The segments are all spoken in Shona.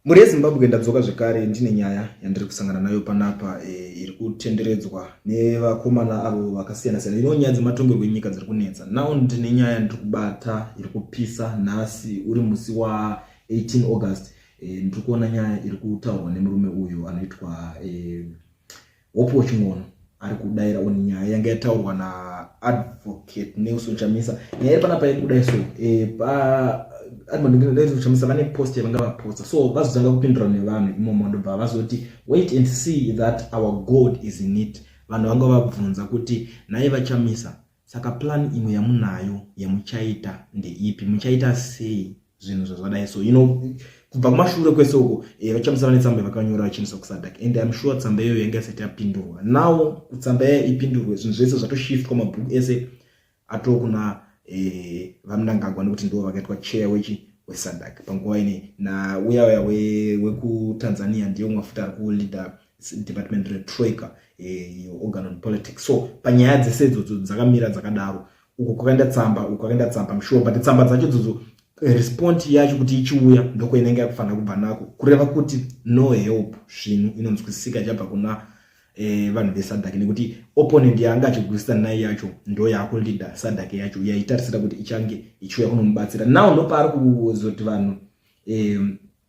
Mhuri yeZimbabwe ndadzoka zvekare ndine nyaya yandiri kusangana nayo panapa e, iri kutenderedzwa nevakomana avo vakasiyana siyana ino nyaya dzematongerwo enyika dziri kunetsa now ndine nyaya yandiri kubata iri kupisa nhasi uri musi wa 18 august e, ndiri kuona nyaya iri kutaurwa nemurume uyu anoitwa e, Hope Waching'ono ari kudaira on nyaya yanga yataurwa na advocate Nelson Chamisa nyaya iri panapa iri kudai so eh, pa advocate Chamisa vane post yavanga vaposta so vazotanga kupindura nevanhu imomo ndobva vazoti wait and see that our God is in it vanhu vanga vabvunza kuti nhai vaChamisa Saka plan imwe yamunayo yamuchaita ndeipi? Muchaita sei zvinhu zvazvadai so you know kubva kumashure kwese uko eh, vachamusana netsamba vakanyora vachinisa kusadak and im sure tsamba iyoyo yanga isati yapindurwa now kutsamba yaya ipindurwe zvinhu zvese zvatoshiftwa mabhuku ese ato kuna eh, vamnangagwa nekuti ndivo vakaitwa chair wechi wesadak panguva ine nauya uya wekutanzania ndiye umwe futi ari kuleader department retroika eh, organ on politics so panyaya dzese idzodzo dzakamira dzakadaro uko kwakaenda tsamba uko kwakaenda tsamba msure but tsamba dzacho idzodzo eh, respond yacho kuti ichiuya ndoko inenge yakufanira kubva nako kureva kuti no help svinu inonzwisisika chabva kuna eh, vanhu vesadhake nekuti opponent yaanga achigwisisa nai yacho ndo yaakuleader sadhake yacho yaitarisira kuti ichange ichiuya kunomubatsira now ndopaari kuzoti vanhu eh,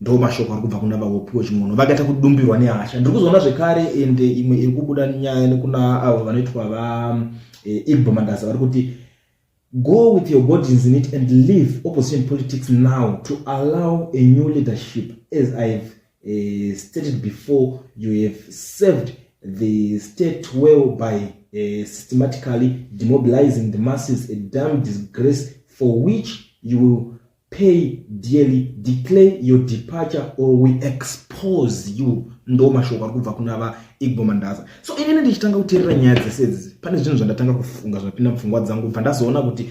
ndo mashoko ari kubva kuna vahopiwe chimwono vakaita kudumbirwa nehasha ndiri kuzoona zvekare ende imwe iri kubuda nyaya nekuna avo vanoitwa va eh, igbo mandaza vari kuti go with your bodies in it and leave opposition politics now to allow a new leadership as ihave uh, stated before you have served the state well by uh, systematically demobilizing the masses a dam disgrace for which you will pay dearly declare your departure or we expose you ndo mashoko ari kubva kuna vaigbo mandaza so inini ndichitanga kuteerera nyaya dzese idzi pane zvinhu zvandatanga kufunga zvinopinda mupfungwa dzangu bva ndazoona kuti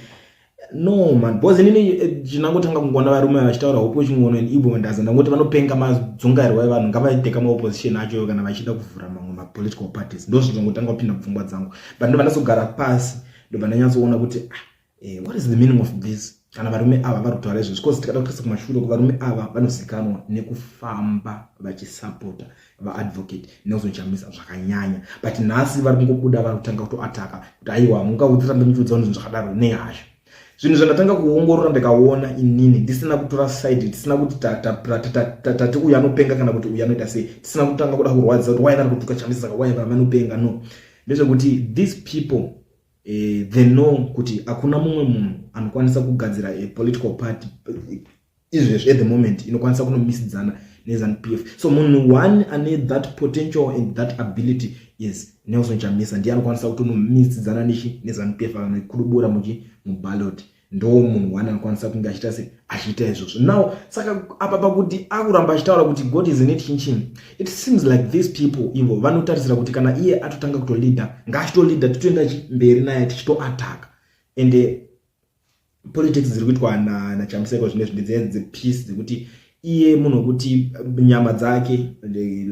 no man because inini eh, chinangotanga kungoona varume vachitaura hope wechingono and igbo mandaza ndangoti vanopenga madzungairwa evanhu ngavaiteka maopposition achoyo kana vachida kuvhura mamwe mapolitical parties ndo zvinhu zvangotanga kupinda mupfungwa dzangu but ndobva ndazogara pasi ndobva ndanyatsoona kuti ah, Eh, what is the meaning of this? Kana varume ava vari kutaura izvozvo because tikada kutarisa kumashure kuvarume ava vanozikanwa nekufamba vachisapota vaadvocate nekuzochamisa zvakanyanya but nhasi vari kungobuda vari kutanga kutoataka kuti aiwa mungaudzirambe muchiudza vanhu zvinhu zvakadaro nehasha zvinhu zvandatanga kuongorora ndikaona inini ndisina kutora side tisina kuti tati uyu anopenga kana kuti uyu anoita sei tisina kutanga kuda kurwadza kuti wainari kutuka chamisa saka wainari vanopenga no ndezvekuti these people eh, they know kuti hakuna mumwe munhu anokwanisa kugadzira a political party izvezvi at the moment inokwanisa kunomisidzana nezanu p f so munhu one ane that potential and that ability is nelson chamisa ndiye anokwanisa kutonomisidzana nechi nezanu p f akanokudubura muchi mubaloti ndo munhu one anokwanisa kunge achiita se achiita izvozvo now saka apa pakuti akuramba achitaura kuti god is net chinchin it seems like these people ivo vanotarisira kuti kana iye atotanga kutolida ngaachitolida titoenda mberi naye tichitoataka ende politics dziri kuitwa nachamseko zvine zvinhu dzepeace dzekuti iye munhu wekuti nyama dzake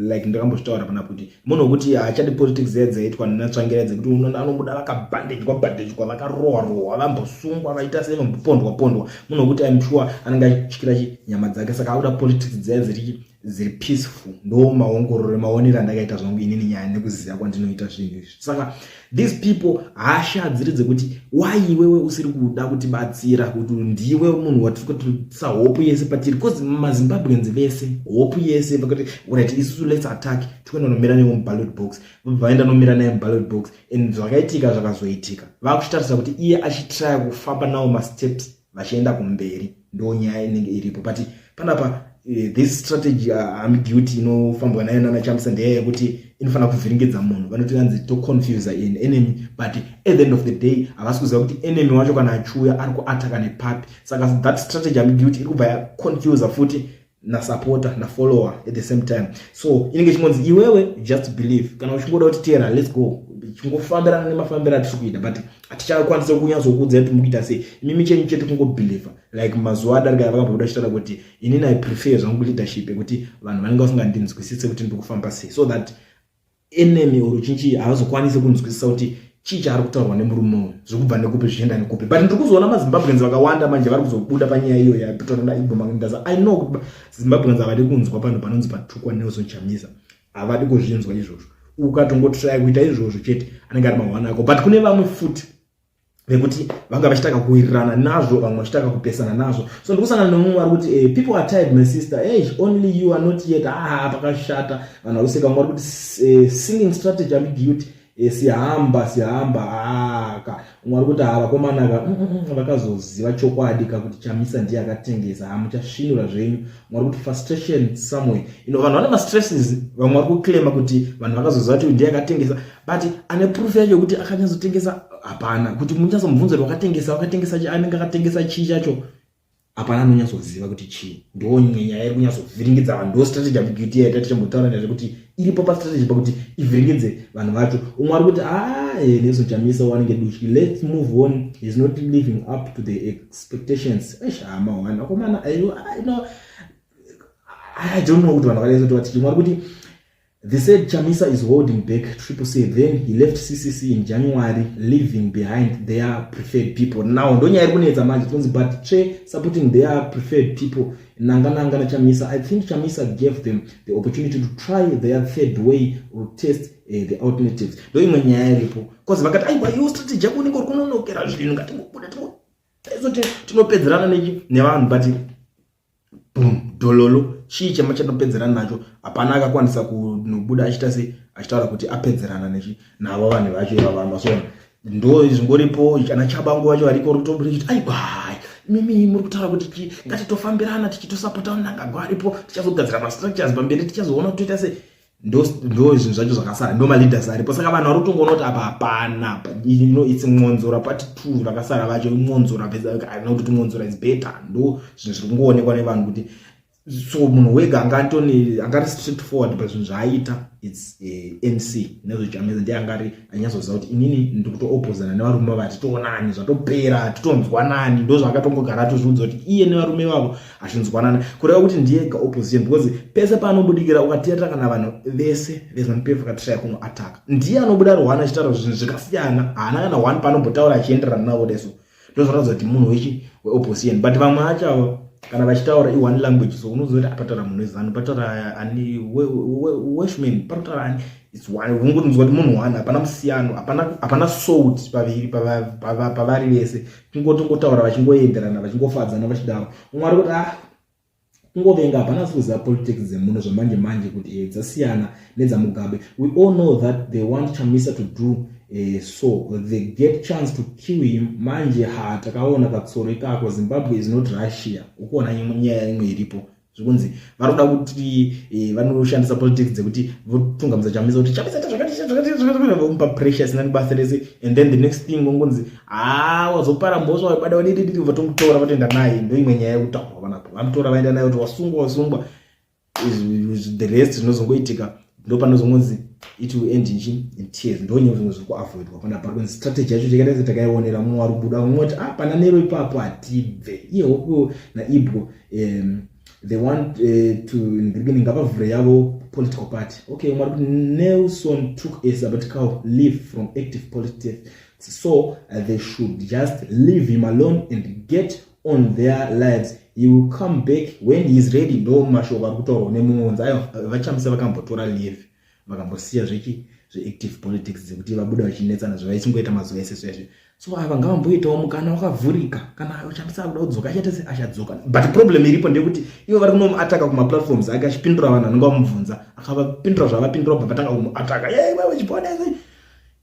like ndakambozvitaura pana kuti munhu wekuti haachadi politics dzaye dzaitwa natsvangira dzekuti unoona anomuda vakabhandejwa bhandejwa vakarohwa rohwa vambosungwa vaita sei vambopondwa pondwa munhu wekuti im sure anenge achityira chi nyama dzake saka akuda politics dzaye dziri dziri peaceful ndo maongororo maonero andakaita zvangu inini nyaya nekuziva kwandinoita zvinhu izvi saka these people hasha dziri dzekuti why iwewe usiri kuda kutibatsira kuti ndiwe munhu watiri kutisa hopu yese patiri bcause mazimbabweans vese hopu yese vakati right isusu lets attack tikuenda nomira newe muballot box vaenda nomira naye muballot box and zvakaitika zvakazoitika vakuchitarisa kuti iye achitraya kufamba nawo masteps vachienda kumberi ndo nyaya inenge iripo but panapa uh, this strategy uh, ambiguity inofambwa nayo nana chamisa ndeya yekuti inofanira kuvhiringidza munhu vanoti vanzi to confuse an enemy but at the end of the day havasi kuziva kuti enemy wacho kana achiuya ari kuataka nepapi saka that strategy ambiguity iri kubva yaconfuse futi nasupporter nafollower at the same time so inenge chingonzi iwewe just believe kana uchingoda kuti teera let's go chingofambirana nemafambiro atiri kuita but hatichakwanisa kunyatsokuudza kuti mukuita sei imimi chenyu chete kungobhilivha like mazuva adarika vakabhoda chitaura kuti inini i prefer zvangu leadership yekuti vanhu vanenge vasingandinzwisise kuti ndiri kufamba sei so that enemy or chinchii havazokwanise kunzwisisa kuti chii chaari kutaurwa nemurume uyu zvekubva nekupi zvichienda nekupi but ndiri kuzoona mazimbabweans vakawanda manje vari kuzobuda panyaya iyo yapitorana igomaindaza i know kuti zimbabweans havadi kunzwa panhu panonzi patukwa nelson chamisa havadi kuzvinzwa izvozvo ukatongotrai kuita izvozvo chete anenge ari mahwana ako but kune vamwe futi nekuti vanga vachitanga kuwirirana nazvo vamwe vachitanga kupesana nazvo so ndikusangana nemumwe ari kuti eh, people are tired my sister hey, only you are not yet ah pakashata vanhu vakuseka vamwe vari kuti eh, singing strategy ambiguity eh, sihamba sihamba aka ah, umwe ari kuti ha ah, vakomana ka mm, mm, mm, vakazoziva chokwadi ka kuti chamisa ndiye akatengesa ha ah, muchasvinura zvenyu umwe ari kuti frustration somewhere ino vanhu vane mastresses vamwe vari kuclaima kuti vanhu vakazoziva kuti ndiye akatengesa but ane proof yacho yekuti akanyatsotengesa hapana kuti munyatsomubvunzo kuti wakatengesa wakatengesa chi anenge akatengesa chii chacho hapana anonyatsoziva kuti chii ndo nyenya yairi kunyatsovhiringidza vanhu ndo strategy yabigiti yaita tichimbotaura nezve kuti iripo pastrategy pakuti ivhiringidze vanhu vacho umwe ari kuti aa eh, nesu chamisa wanenge duchi let's move on is not living up to the expectations eish hama wani akomana i don't know kuti vanhu vakaezotiwa tichimwe ari kuti They said Chamisa is holding back Triple C then he left CCC in January leaving behind their preferred people. Now ndonyaya iri kunetsa manje tinonzi but Che supporting their preferred people nanga nanga na Chamisa. I think Chamisa gave them the opportunity to try their third way or test uh, the alternatives. Ndo imwe nyaya iripo because vakati aiwa yo strategy yako unenge uri kunonokera zvinhu ngatingobuda tinopedzerana nevanhu but boom dololo chii chema chanopedzerana nacho hapana akakwanisa kunobuda achiita sei achitaura kuti apedzerana nechi navo vanhu vacho ivava masona ndo zvingoripo ana chabangu vacho variko rutoburi chiti aikwai mimi muri kutaura kuti ti ngatitofambirana tichitosapota nangagwa aripo tichazogadzira mastructures pamberi tichazoona kuti toita sei ndo ndo zvinhu zvacho zvakasara ndo maleaders aripo saka vanhu vari kutongoona kuti apa hapana ino its mwonzora pati two vakasara vacho imwonzora aina kuti timwonzora is better ndo zvinhu zviri kungoonekwa nevanhu kuti so munhu wega anga atoni anga ari straight forward pazvinhu zvaaita its uh, eh, nc nezvechameza ndiye anga ari anyatsoziva kuti inini ndiri kutoopozana nevarume vati toonani zvatopera titonzwanani ndo zvaakatongogara atozviudza kuti iye nevarume vavo achinzwanana kureva kuti ndiyega opposition because pese paanobudikira ukatiyata kana vanhu vese vezanupf akatraya kuno ataka ndiye anobuda rwani achitaura zvinhu zvakasiyana haana kana one paanobotaura achienderana navo deso ndozvataudza kuti munhu wechi weopposition but vamwe acho avo kana vachitaura ione language so unoziva kuti apataura munhu wezanu pataura ani weshmen pataura ani ungonzwa kuti munhu one hapana musiyano hapana sout paviri pavari vese kungoti kungotaura vachingoenderana vachingofadzana vachidaro umwe ari kuti ah kungovenga hapana sikuziva politics dzemuno zvamanje manje kuti e, dzasiyana nedzamugabe we all know that they want chamisa to do e, so they get chance to kill him manje ha takaona katsoro ikako zimbabwe is not russia ukuona nyaya imwe iripo zvikunzi vari kuda kuti eh, vanoshandisa politics dzekuti votungamidza chamisa kuti chamisa zvakativomupa pressure asina nebasa rese and then the next thing vongonzi haa ah, wazopara mhosva waibada wadidididi vatomutora vatoenda naye ndoimwe nyaya yekutaurwa vanapo vamutora vaenda naye kuti wasungwa wasungwa the rest zvinozongoitika ndo panozongonzi it will end nchi in tears ndo nyaya zvimwe zviri kuavoidwa pana pari kwenzi strategy yacho chekatese takaionera mumwe ari kubuda vamwe voti ah pana nero ipapo hatibve iye hokuwo naibwo um, they want uh, to in the beginning ngavavhure yavo political party okay mwari kuti nelson took a sabbatical leave from active politics so uh, they should just leave him alone and get on their lives he will come back when he is ready ndo mashoko ari kutaurwa nemumwe unzi ayo vachamisa vakambotora leave vakambosiya zvechi zveactive politics dzekuti vabuda vachinetsana zvavaisingoita mazuva ese sezve so ava ngavamboitawo mukana wakavhurika kana uchambisa akuda kudzoka achata se achadzoka but problem iripo ndeyekuti ivo vari kunomuataka kumaplatforms ake achipindura vanhu anenge vamubvunza akavapindura zvavapindura bva vatanga kumuataka ye iwe wechiponese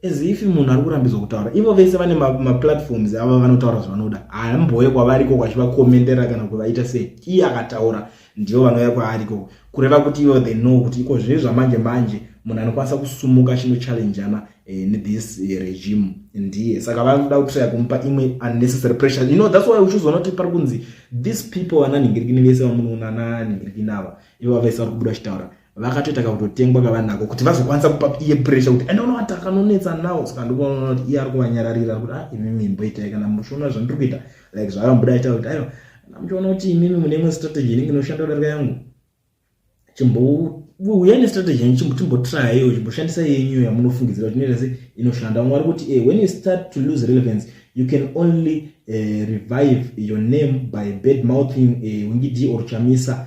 as if munhu ari kurambidzwa kutaura ivo vese vane maplatforms ma ava vanotaura zvavanoda hamboye kwavari ikoko achivakomentera kana kuvaita sei iye akataura ndivo vanouya kwaari ikoko kureva kuti ivo they know kuti iko zvine zvamanje manje munhu anokwanisa kusumuka achinochallenjana eh, nethis eh, regime ndiye saka vanoda kutraya kumupa imwe unnecessary pressure you know thats why uchizoona kuti pari kunzi these people vananhingirikini vese vamunoona nanhingirikini ava ivo vese vari kubuda vachitaura vakatoita kakutotengwa kavanako kuti vazokwanisa kupa iye pressure kuti ende unoati akanonetsa nawo saka ndikuona kuti iye ari kuvanyararira kuti a ah, imi mimboitai kana muchiona zvandiri kuita like zvakambuda aita kuti aiwa kana muchiona kuti imimi mune imwe strategy inenge inoshanda kudarika yangu chimbouya nestrategy yanyu chimbo chimbotraiyo chimboshandisa yenyu yamunofungidzira kuti inoita se inoshanda mwari kuti e when you start to lose relevance you can only uh, revive your name by bad mouthing uh, wingidi or chamisa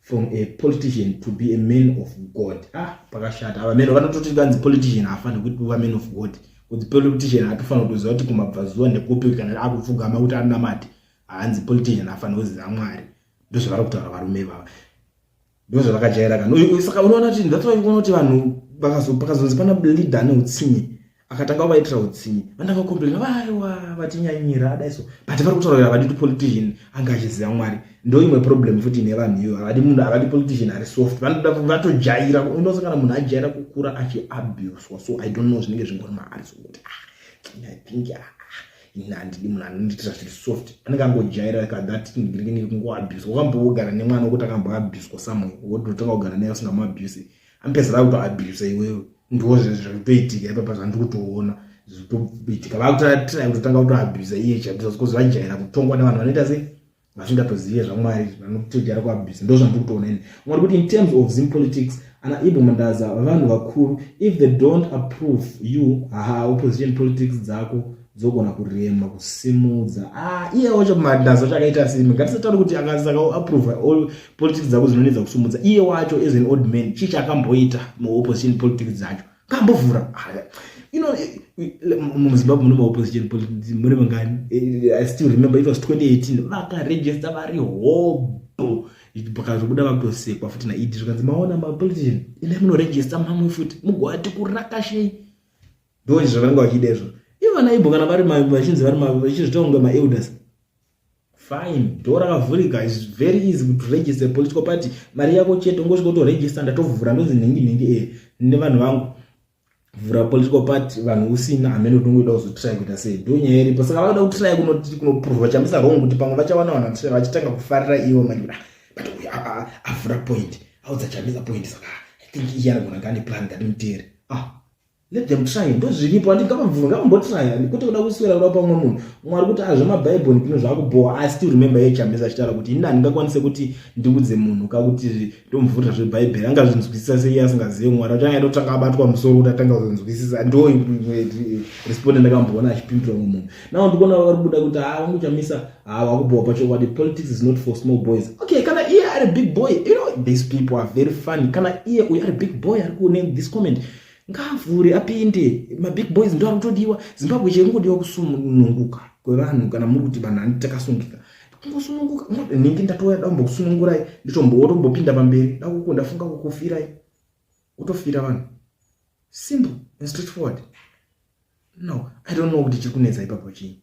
from a politician to be a man of god ah pakashata ava mero vanototi vanzi politician haafanire kuti kuva man of god kuti politician hatofanira kutoziva kuti kumabvazuva nekupi kana akupfugama kuti anamati haanzi politician haafanire kuziva mwari ndozvavari kutaura varume ivava ndozvavakajaira kana saka unoona kuti ndatovaona kuti vanhu pakazonzi pana leader ane utsinye akatanga kuvaitira utsinye vandava komplena vaiwa vatinyanyira adaiso but vari kutaura kuti havadi politician anga achiziva mwari ndo imwe problem futi ine vanhu iyo havadi munhu havadi politician ari soft vanoda vatojaira unosa kana munhu ajaira kukura achiabuswa so i don't know zvinenge zvingori maari so kuti ah, i think ah, ini handidi munhu anondiitira zviri soft anenge angojaira ka that ndinenge kungoabuswa wakambogara nemwana wokuti akamboabuswa somewhere wototanga kugara naye usingamabuse amupedzera kutoabusa iwewe ndiwo zvekutoitika ipapa zvandikutoona zvitoitika vakutotrai kutotanga kutoabusa iye chabusa because vajaira kutongwa nevanhu vanoita sei vasingatozive zvamwari vanotojara kuabusa ndo zvandikutoona ini mwari kuti in terms of zim politics ana ibo mandaza vanhu vakuru if they don't approve you haa opposition politics dzako dzogona kurema kusimudza ah, iye wacho madhazo chakaita simi ngatisatauri kuti akasaka approve all politics dzako dzinoedza kusumudza iye wacho as an old man chii chaakamboita maopposition politics dzacho kambovhura you know eh, eh, muzimbabwe mune maopposition politics mune vangani eh, i still remember it was 2018 vakaregista vari hobho pakazvobuda vakutosekwa futi naidi zvikanzi maona mapolitician ine munoregista mamwe futi mugoati kurakashei ndivo izvo zvavanenge vachida izvo ivo vana ibo kana vari vachinzi vari vachizvita kunge maelders fine door rakavhurika is very easy to register political party mari yako chete ungosvika utoregister ndatovhura ndonzi nhingi nhingi e nevanhu vangu vhura political party vanhu usina hamene kuti ungoida kuzotry kuita sei ndo nyaya iripo saka vakuda kutry kunoprova chamisa wrong kuti pamwe vachawana vanhu vatry vachitanga kufarira ivo manje ah, but uyu avhura point audza chamisa point saka i think iye anogona ngane plan ngatimuteri ah let them try ndozviripo ati ngavabvume ngavambotraya kwete kuda kuswera kuda pamwe munhu mwari kuti a zvemabhaibhoni kuno zvaakubhowa asi ti remember ye chamisa achitaura kuti ini handingakwanise kuti ndiudze munhu ka kuti ndomubvunza zvebhaibheri angazvinzwisisa seiye asingazive mwari achanga atotanga abatwa musoro kuti atanga kuzvinzwisisa ndo responde ndakamboona achipindura mwe munhu nao ndikuona vari kubuda kuti haa wangu chamisa haa wakubhowa pachokwadi politics is not for small boys okay kana iye ari big boy you know these people are very funny kana iye uyu ari big boy ari kune this comment ngaavhure apinde mabig boys ndo arikutodiwa zimbabwe chaiyo ingodiwa kusununguka kwevanhu kana muri kuti vanhu ani takasungika kungosununguka nhingi ndatouya dakumbokusunungurai nditombotombopinda pamberi dakuko ndafunga kukufirai kutofira vanhu simple and straight forward no i don't know kuti chiri kunetsa ipapo chii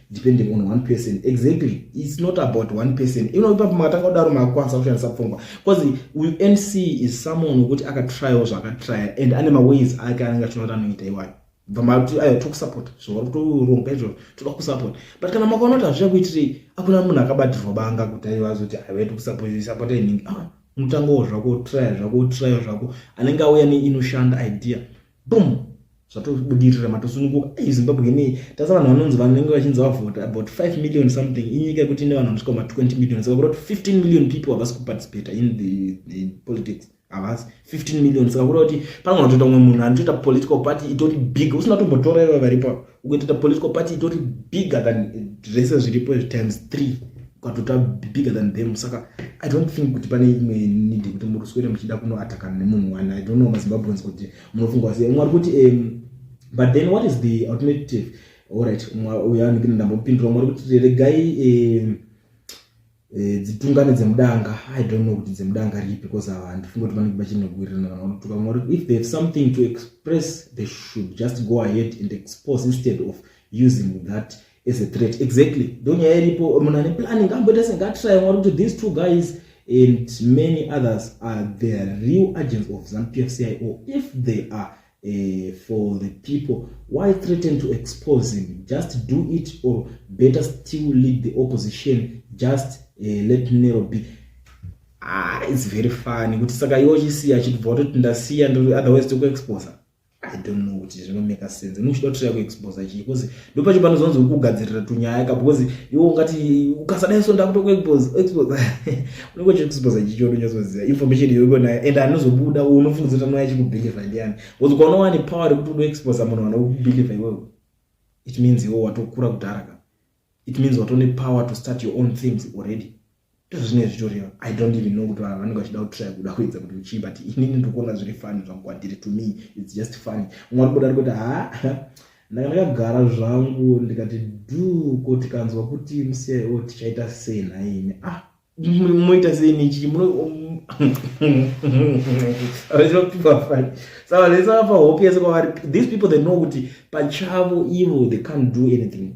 depending on one person exactly it's not about one person you know ipapo makatanga kudaro makwanisa kushandisa pfungwa because unc is someone wekuti akatryawo zvakatrya and ane maways ake anenge achinoita anoita iwayo bva mati ayo tokusupport zvauri kutoronga izvozvo toda kusupport but kana makaona kuti hazviya kuitirei akuna munhu akabatirwa banga kuti aiva zoti aiwa tokusupport inhingi ah, unotangawo zvako trya zvako trya zvako anenge auya neinoshanda idea boom zvatobudirira matosununguka ei zimbabwe inei tasa vanhu vanonzi vanenge vachinzi vavhota about 5 million something inyika yekuti ine vanhu vanosvika ma 20 million saka kureva kuti 15 million people havasi kuparticipata in the, the politics havasi 15 million saka kureva kuti pamwe vatoita umwe munhu anotoita political party itori big usina tombotora iva varipo ukatoita political party itori bigger than zvese zviripo izvi times three ukatoita bigger than them saka i don't think kuti pane imwe need kuti muri swere muchida kunoatakana nemunhu wani i don't know mazimbabweans kuti munofunga wasiya umwe ari kuti um, but then what is the alternative allright uyo anenge ndambopindura umwe ari kuti regai um, Eh, dzitungane dzemudanga i don't know kuti dzemudanga ripi because ava handifunge kuti vanenge vachinogwirirana kana vanotuka vamwe vari if they have something to express they should just go ahead and expose instead of using that as a threat exactly ndo nyaya iripo munhu ane planning kamboita sengatry mwari kuti these two guys and many others are the real agents of zanu pfcio if they are uh, for the people why threaten to expose him just do it or better still lead the opposition just uh, let nero be ah, it's very funny kuti saka iwo chisiya chitibva watoti ndasiya otherwise tokuexposa i don't know kuti zvinomeka sense unochida kutira kuexposa chii bcause ndopacho panozonzi ukugadzirira tunyaya ka because iwe ungati ukasadai so ndakutokuexpose expose unenge uchikuexpose chichodo nyazoziva information iyoiko nayo and anozobuda unofunga kuti anoya chikubelieve ndiani because ukaona wani power rekuti unoexpose munhu anokubelieve iwewe it means iwe watokura kudhara ka it means watone power to start your own things already ndozvinenge zvitoriwa i don't even know kuti vanhu vanenge vachida kutraya kuda kuedza kuti uchii but inini ndikuona zviri fani zvangu kwandiri to me its just fani umwe arikuda ari kuti ha ndanga ndakagara zvangu ndikati du ko tikanzwa kuti musiyai o tichaita sei nhaimi ah moita sei nechii muno rinopiwa fani saka lesavapa hope yese kwavari these people they know kuti pachavo ivo they can't do anything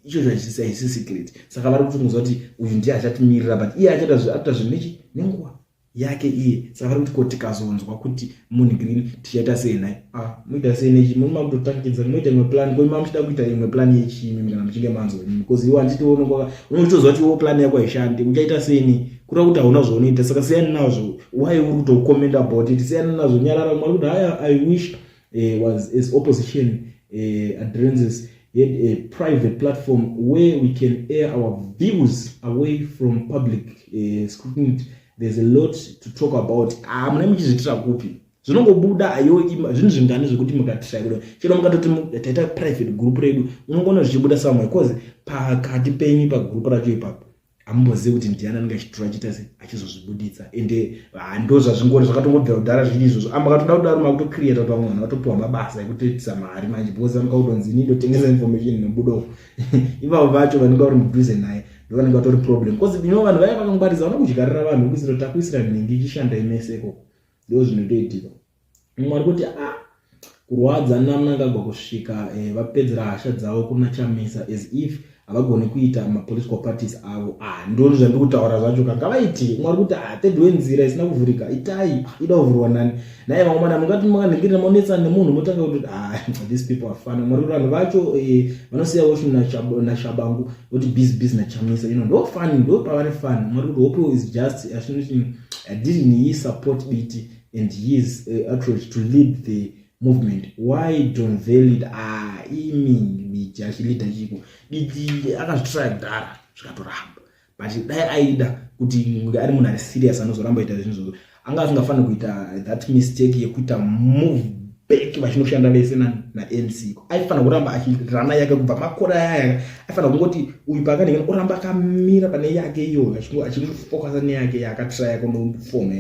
icho chaisi secret saka vari kuti muziva kuti uyu ndiye achatimirira but iye achaita zvinhu nechi nenguva yake iye saka vari kuti ko tikazonzwa kuti munhu green tichaita sei nhai a ah, muita sei nechi muni makutotakidza muita imwe plan ko ima muchida kuita imwe plan yechimi kana muchinge manzwa imi bcause iwe handitiwonokwa unotoziva kuti iwo plan yako haishandi uchaita sei ni kuda kuti hauna zvaunoita saka siyani nazvo why uri kutokomenda about it siyani nazvo nyarara mwari kuti haya i wish uh, was as opposition uh, eh, adrenses had a private platform where we can air our views away from public uh, scrutiny there's a lot to talk about ah, mune muchizviitira kupi zvinongobuda ayo zvinhu zvingani zvekuti mukatirakuda chero mukatoti taita private group redu unongoona zvichibuda samwe bcause pakati penyu pagroup racho ipapo amumbozive kuti ndiani anenge achitura achiita se achizozvibuditsa ende hando ah, zvazvingori zvakatongobvira kudhara zviri izvozvo amba katoda kudaro makutocreata kuti vamwe vanhu vatopiwa mabasa ekutoitisa mari manje because vamuka kutonzi ini ndotengesa information inobudo ivavo vacho vanenge vari mudhuze naye ndovanenge vatori problem bcause ino vanhu vaya vakangwariza vanokudyarira vanhu kuisira takuisira nhingi ichishanda imese ikoko ndo zvinotoitika mumwe ari kuti ah kurwadza namnangagwa kusvika eh, vapedzera hasha dzavo kuna chamisa as if havagoni kuita mapolitical parties avo ah, ndoni zvandiri kutaura zvacho ka ngavaiti mumwe ari kuti ah, tedwe nzira isina kuvhurika itai ah, ida kuvhurwa nani naye vamwe mana mungati makanhingirira maonetsana nemunhu motanga kuti ah, these people afana mumwe ari kuti vanhu vacho eh, vanosiya woshu nashabangu voti busy busy nachamisa ino ndo fani ndo pavane fani mumwe ari kuti hope is just ashinoti adidn't he support biti and his uh, approach to lead the movement why don velid ah, imi miji achilida chiko didi akazvitora kudhara zvikatoramba but dai aida kuti ari munhu ari serious anozoramba ita zvinhu zvozo anga asingafaniri kuita that mistake yekuita move back vachinoshanda vese namc aifanira kuramba achirana yake kubva makore ayaya aifanira kungoti uyu paakanengena oramba akamira pane yake iyoyo achingofocusa neyake yaakatraya kunofoma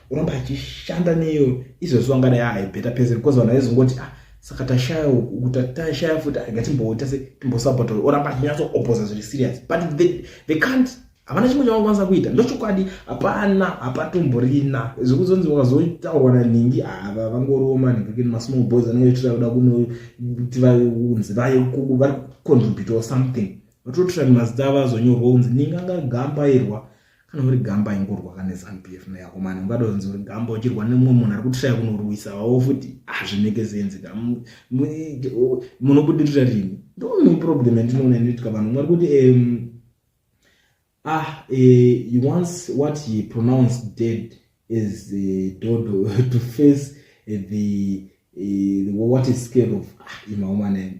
unomba achishanda neyo izvezvo angada yaaibheta pese because vanhu vaizongoti ah saka tashaya uku tashaya futi agatimboita se timbosupporta oramba achinyatso oposa zviri serious but they, they can't havana chimwe chavakwanisa kuita ndochokwadi hapana hapatomborina zvekuzonzi vakazotaurwa nanhingi ava vangoroma nhingi masmall boys anenge achitira kuda kunoti vaunzi vaye kuku vari contribute or something vatototsvira mazita ava azonyorwa unzi ninga ngagambairwa kana uri gamba ingorwa ka neZanu PF na yako mani ungadonzi uri gamba uchirwa nemumwe munhu ari kutishaya kunorwisa wawo futi hazvineke zenzi ka munobudirira rini ndoone problem yandinoona inoitika vanhu mwari kuti um, ah uh, once what he pronounced dead is uh, dodo to face uh, the, uh, the what is scared of ah, imaomanene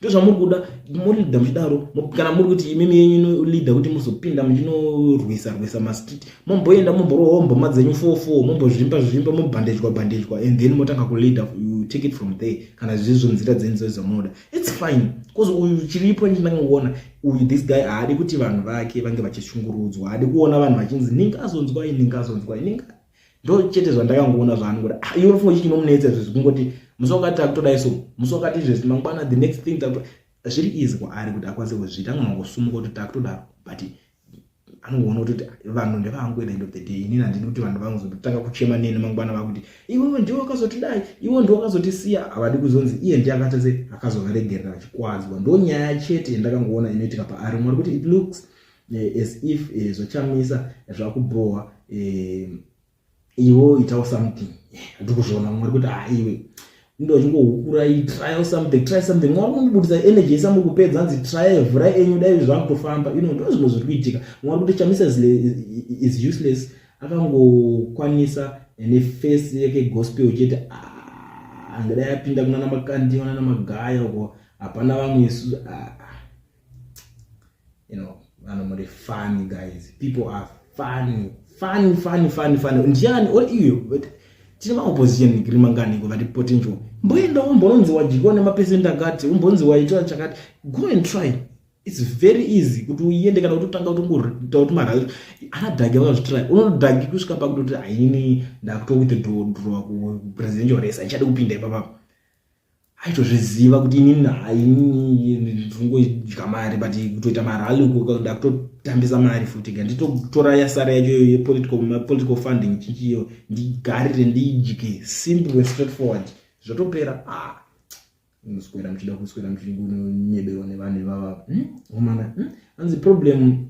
ndozvamuri kuda morida muchidaro kana muri kuti imimi yenyu inolida kuti muzopinda muchinorwisa rwisa mastreet momboenda momborohwa mboma dzenyu four four mombozvimba zvimba mobhandejwa bhandejwa and then motanga kulida you take it from there kana zvizvo nzira dzenyu dzoe dzamunoda its fine bcause uyu chiripo ndinangoona uyu this guy haadi kuti vanhu vake vange vachishungurudzwa haadi kuona vanhu vachinzi ninga azonzwai ninga azonzwai ninga ndo chete zvandakangoona zvaani kuti ah, iwe mfungo chinomunetsa izvo zvekungoti musi wakati takutodai so musi wakati izvezvi mangwana the next thing takuto zviri easy kwaari kuti akwanise kuzviita angonangosumuka kuti takutodaro but anongoona kuti vanhu ndevangu end of the day inini handidi kuti vanhu vangozotanga kuchema neni mangwana vakuti iwewe ndiwe wakazotidai iwe ndiwe wakazotisiya havadi kuzonzi iye ndiye akatese akazovaregerera vachikwadzwa ndonyaya chete yandakangoona inoitika paari mwari kuti it looks eh, as if eh, zvachamisa zvakubhowa eh, iwo itawo something ndikuzviona mwari kuti ha iwe ndochingohukurai trial something try something mwari kundibudisa energy isa muri kupedza hanzi trial vhura enyu dai zvakutofamba ino ndo zvimwe zviri kuitika mwari kuti chamisa is useless akangokwanisa ene face yake gospel chete ah, angadai apinda kunana makandiwa nana magaya uko hapana vamwe isu ah, ah. you know vanhu muri funny guys people are funny funny funny funny funny ndiani or iyo but tine maopposition nigiri manganiko vati potential mboenda umbononzi wadyiwa nemapesent akati umbonzi waitwa chakati go and try its very easy kuti uende kana kutotanga kutongoita kuti mara ana dhagi vakazvitry unodhagi kusvika pakutoti haini ndakuto withdrawa kupresidential race haichadi kupinda ipapapa aitozviziva kuti inini hayi ndingoidya mari but kutoita marali uko ndakutotambisa mari futi ka nditotora yasara yacho yepolitical funding chichiyo ndigarire ndiidye simple and straight forward zvotopera ah muswera muchida kuswera muchinyeberwa nevanhu ivava homana hmm? hmm? hanzi problem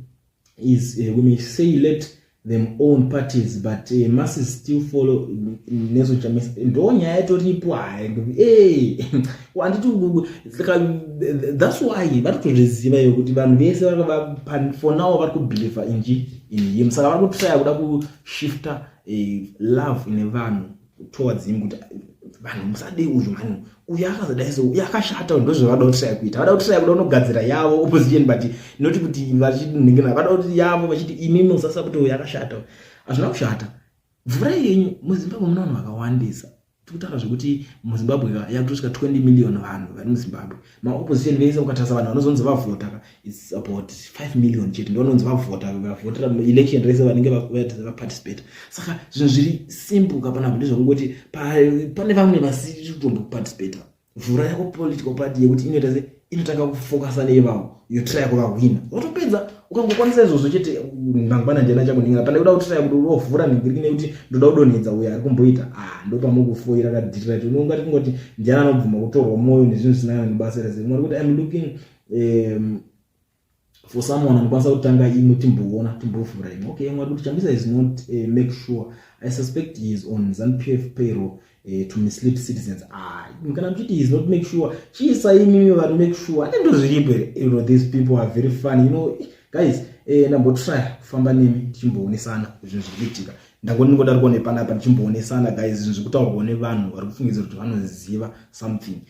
is uh, we may say let them own parties but uh, must still follow nezo chamisa ndo nyaya itoripo hayi eh, handiti that's why vari kutozviziva iyo kuti vanhu vese for now vari kubelieve inji in him saka vari kutraya kuda kushifta uh, love ine vanhu towards him kuti vanhu musade uyu mani uyu akazodai so uyu akashata uyu ndozvavada kutiraya kuita vada kutiraya kuda unogadzira yavo opposition but not kuti vachidinhikina vada kuti yavo vachiti imi musasa kuti uyu akashata hazvina kushata mvura yenyu muzimbabwe muna vanhu vakawandisa tikutaura zvekuti muzimbabwe yakutosvika 20 million vanhu vari muzimbabwe maopposition vese ukatarisa vanhu vanozonzi vavhota ka its about 5 million chete ndovanonzi vavhota vavhotera election rese vanenge vaparticipate saka zvinhu zviri simple kapana kuti zvekungoti pane vamwe vasiri kutomboparticipata vhura yako political party yekuti inoita se inotanga kufokasa neivavo yotraya kuvahwina votopedza ukangokwanisa izvozvo chete mangwana ndiana chakunhingira pane kuda kutiraya kuti urovhura nhingiriki nekuti ndoda kudonhedza uyo ari kumboita a ah, ndopamukufoira kadhirira ti unongati kungoti ndiana anobvuma kutorwa mwoyo nezvinhu zvisina kana nebasa rese mari kuti im looking um, for someone anokwanisa kutanga imwe timboona timbovhura imwe okay mwari kuti chambisa is not uh, make sure i suspect he is on zanpf payroll eh, to mislead citizens ah, kana muchiti he is not make sure chiisa imimi vari make sure ane ndozviripo here you know these people are very funny you know guys eh, ndambotry kufamba nemi tichimboonesana zvinhu zviri kuitika ndangoti ndingodarikwo nepanapa tichimboonesana guys zvinhu zviri kutaurwa nevanhu vari kufungidzira kuti vanoziva something